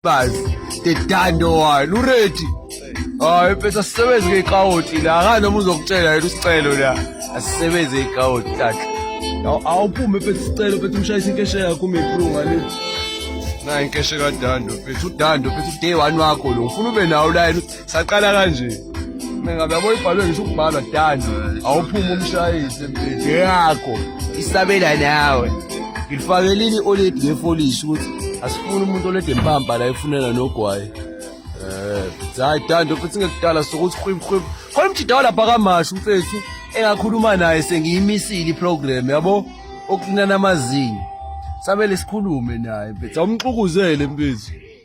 bazi dedando wani uredi hayi mfethu asisebenzi ngeyikawoti la akanoma uzokutshela yena usicelo la asisebenzi ngeyikawoti tata awuphume mfethu isicelo mfethu umshayisa inkeshe yakho umeplunga le nayi inkeshe kadando mfethu udando mfethu uday one wakho lo ufuna ube nawo layini saqala kanje mina ngabe yabo ibhalwe ngisho ukubhalwa dani awuphuma umshayise mpethe yakho isabela nawe ngilifake lini oledi ngefolishi ukuthi asifuni umuntu olede mpampa la efunela nogwayi um hayi dando futhi ngekudala sokuthi khwibkhwib khona umjidawa lapha kamasho umfethu engakhuluma naye sengiyimisile iprogram yabo okunana amazinyo samele sikhulume naye mfethu awumxukuzelwe mfethu